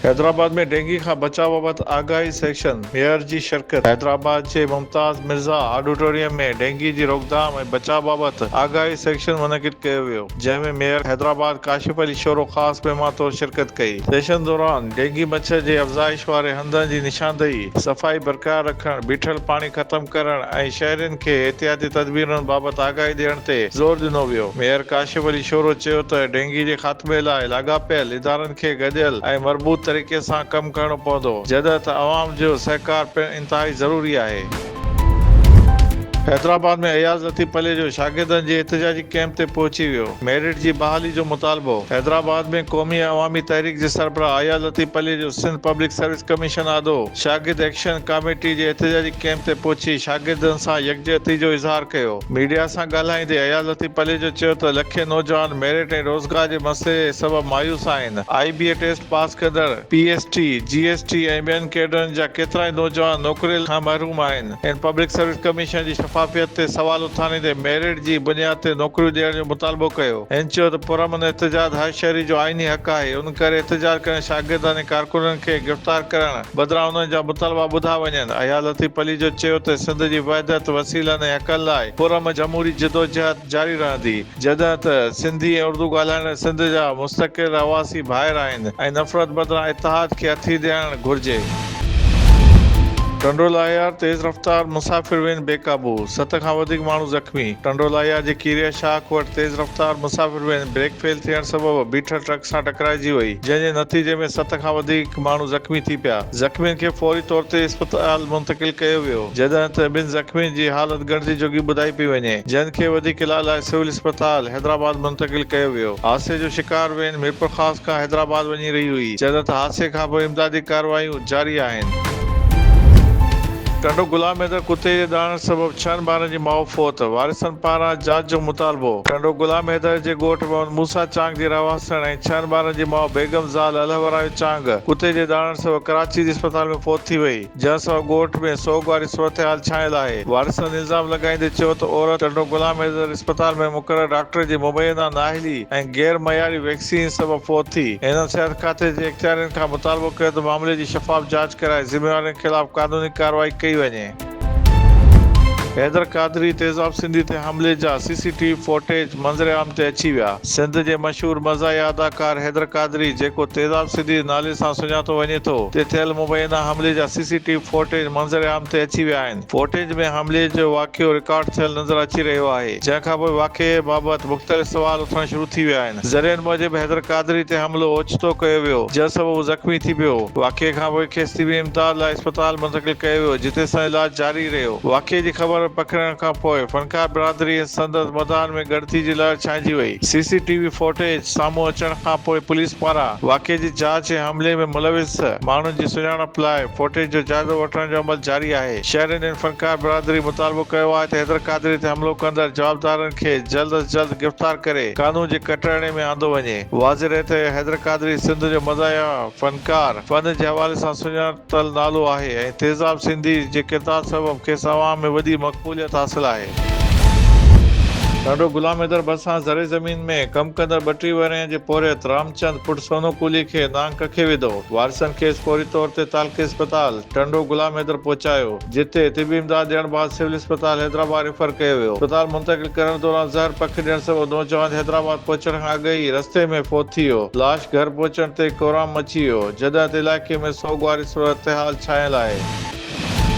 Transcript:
Hyderabad ۾ dengue کان بچاء بابت آگاهي سيشن، ميئر جي شرڪت حيدرآباد جي ممتاز مرزا آڊيٽوريم ۾ ڊينگي جي روڪٿام ۽ بچاء بابت آگاهي سيشن منعقد ڪيو ويو، جنهن ۾ ميئر حيدرآباد ڪاشف علي شورو خاص مهمان طور شرڪت ڪئي. سيشن دوران ڊينگي مڇر جي افزائش واري هنڌن جي نشاندهي، صفائي برقرار رکڻ، بيٺل پاڻي ختم ڪرڻ ۽ شهرين کي احتياطي تدبيرن بابت آگاهي ڏيڻ تي زور ڏنو ويو. ميئر ڪاشف علي شورو چيو ته ڊينگي جي خاتمي لاء لاڳاپيل ادارن کي گڏيل ۽ مربوط طريقي سان ڪم ڪرڻو پوندو، جڏهن ته عوام جو سهڪار پڻ انتهائي ضروري آهي. حيدرآباد ۾ اياز لطيف پليجو شاگردن جي احتجاجي ڪيمپ تي پهچي ويو، ميرٽ جي بحالي جو مطالبو، حيدرآباد ۾ قومي ۽ عوامي تحريڪ جي سربراهه Ayaz Latif Palijo Sindh public service commission آڏو شاگرد ايڪشن ڪاميٽي جي احتجاجي ڪيمپ تي پهچي شاگردن سان يڪجهتي جو اظهار ڪيو. ميڊيا سان ڳالهائيندي اياز لطيف پليجو چيو ته لکين نوجوان ميرٽ ۽ روزگار جي مسئلي سبب مايوس آهن، آء بي اي ٽيسٽ پاس ڪندڙ، P S T, G S T ۽ ٻين ڪيڊرن جا ڪيترائي نوجوان نوڪري کان محروم آهن، هن پبلڪ سروس ڪميشن جي شفافيت تي سوال اٿاريندي ميرٽ جي بنياد تي نوڪريون ڏيڻ جو مطالبو ڪيو، هن چيو ته پرامن احتجاج هر شهري جو آئيني حق آهي، ان ڪري احتجاج ڪندڙ شاگردن ۽ ڪارڪنن کي گرفتار ڪرڻ. بدران انهن جا مطالبا ٻڌا وڃن. اياز لطيف علي جو چيو ته سنڌ جي وحدت، وسيلن ۽ حقن لاء پرامن جمهوري جدوجهد جاري رهندي، جڏهن ته سنڌي ۽ اردو ڳالهائيندڙ سنڌ جا مستقل رهواسي ڀائر آهن ۽ نفرت بدران اتحاد کي هٿي ڏيڻ گهرجي. ٽنڊو لاهيار، تيز رفتار مسافر وين بي قابو، ست کان وڌيڪ ماڻهو زخمي، ٽنڊو لاهيار جي کيريا شاخ وٽ تيز رفتار مسافر وين بريڪ فيل ٿيڻ سبب بيٺل ٽرڪ سان ٽڪرائجي وئي، جنهن جي نتيجي ۾ ست کان وڌيڪ ماڻهو زخمي ٿي پيا، زخمين کي فوري طور تي اسپتال منتقل ڪيو ويو، جڏهن ته ٻن زخمين جي حالت ڳڻتي جوڳي ٻڌائي پئي وڃي، جن کي وڌيڪ علاج لاء سول اسپتال حيدرآباد منتقل ڪيو ويو، حادثي جو شڪار وين ميرپورخاص کان حيدرآباد وڃي رهي هئي، جڏهن ته حادثي کانپوء امدادي ڪارروايون. جاري آهن. ٽنڊو گلاب ۾ ته ڪتي جي ڏاڙهڻ سبب ڇهن ٻارن جي ماء فوت، وارثن پاران جاچ جو مطالبو. ٽنڊو گلاب ميدر جي ڳوٺ محمد موسيٰ چانگ جي رهواسڻ ۽ ڇهن ٻارن جي ماء بيگم زال الهورايو چانگ ڪتي جي ڏاڙهڻ سبب ڪراچي جي اسپتال ۾ فوت ٿي وئي، جنهن سبب ڳوٺ ۾ سوڳ واري صورتحال ڇانيل آهي. وارثن الزام لڳائيندي چيو ته عورت ٽنڊو گلاب ميدر اسپتال ۾ مقرر ڊاڪٽر جي مبينا نااهلي ۽ غير معياري ويڪسين سبب فوت ٿي، هنن صحت کاتي جي اختيارين کان مطالبو ڪيو ته معاملي جي شفاف جاچ ڪرائي ذميوارن خلاف قانوني ڪارروائي ڪئي وڃي. حيدر قادري تيزاب سنڌي تي حملي جا C C T V footage منظر عام تي اچي ويا، سنڌ جي مشهور مزاحيه اداڪار حيدر قادري جيڪو تيزاب سنڌي نالي سان سڃاتو وڃي ٿو تي ٿيل مبينا حملي جا C C T V footage منظر عام تي اچي ويا آهن، فوٽيج ۾ حملي جو واقعو رڪارڊ ٿيل نظر اچي رهيو آهي، جنهن کانپوء واقعي بابت مختلف سوال اٿڻ شروع ٿي ويا آهن، ذريعن موجب حيدر قادري تي حملو اوچتو ڪيو ويو، جنهن سبب هو زخمي ٿي پيو، واقعي کانپوء کيس طبي امداد لاء اسپتال منتقل ڪيو ويو، جتي سندس علاج جاري رهيو، واقعي جي خبر پکڙڻ کانپوء فنڪار برادري ۽ سندس مداحن ۾ ڳڻتي جي لهر ڇانئجي وئي، C C T V footage. سامهون اچڻ کان پوء پوليس پاران واقعي جي جاچ ۽ حملي ۾ ملوث ماڻهن جي سڃاڻپ لاء فوٽيج جو جائزو وٺڻ جو عمل جاري آهي. شهر انڊين فنڪار برادري مطالبو ڪيو آهي ته حيدر قادري تي حملو ڪندڙ جوابدارن کي جلد از جلد گرفتار ڪري قانون جي ڪٽهڙي ۾ آندو وڃي. واضح رهي ته حيدر قادري سنڌ جو مزاحيه فنڪار، فن جي حوالي سان سڃاڻپ، تل نالو آهي ۽ تيزاب سنڌي جي ڪردار سبب کيس عوام ۾ وڏي مقبوليت حاصل آهي. ڏاڏو غلام حيدر ڀرسان زرعي زمين ۾ ڪم ڪندڙ ٻه ٽي ورهين جي پورهيت رامچند پٽ سونو ڪولهي کي نانگ ڪکي وڌو. وارثن کيس فوري طور تي تعلقي اسپتال ٽنڊو غلام حيدر پهچايو. جتي طبي امداد ڏيڻ بعد سول اسپتال حيدرآباد ريفر ڪيو ويو، اسپتال منتقل ڪرڻ دوران زهر پک ڏيڻ سبب نوجوان حيدرآباد پهچڻ کان اڳ ئي رستي ۾ فوت ٿي ويو، لاش گهر پهچڻ تي ڪورام مچي ويو، جڏهن ته علائقي ۾ سوڳواري صورتحال ڇانيل آهي.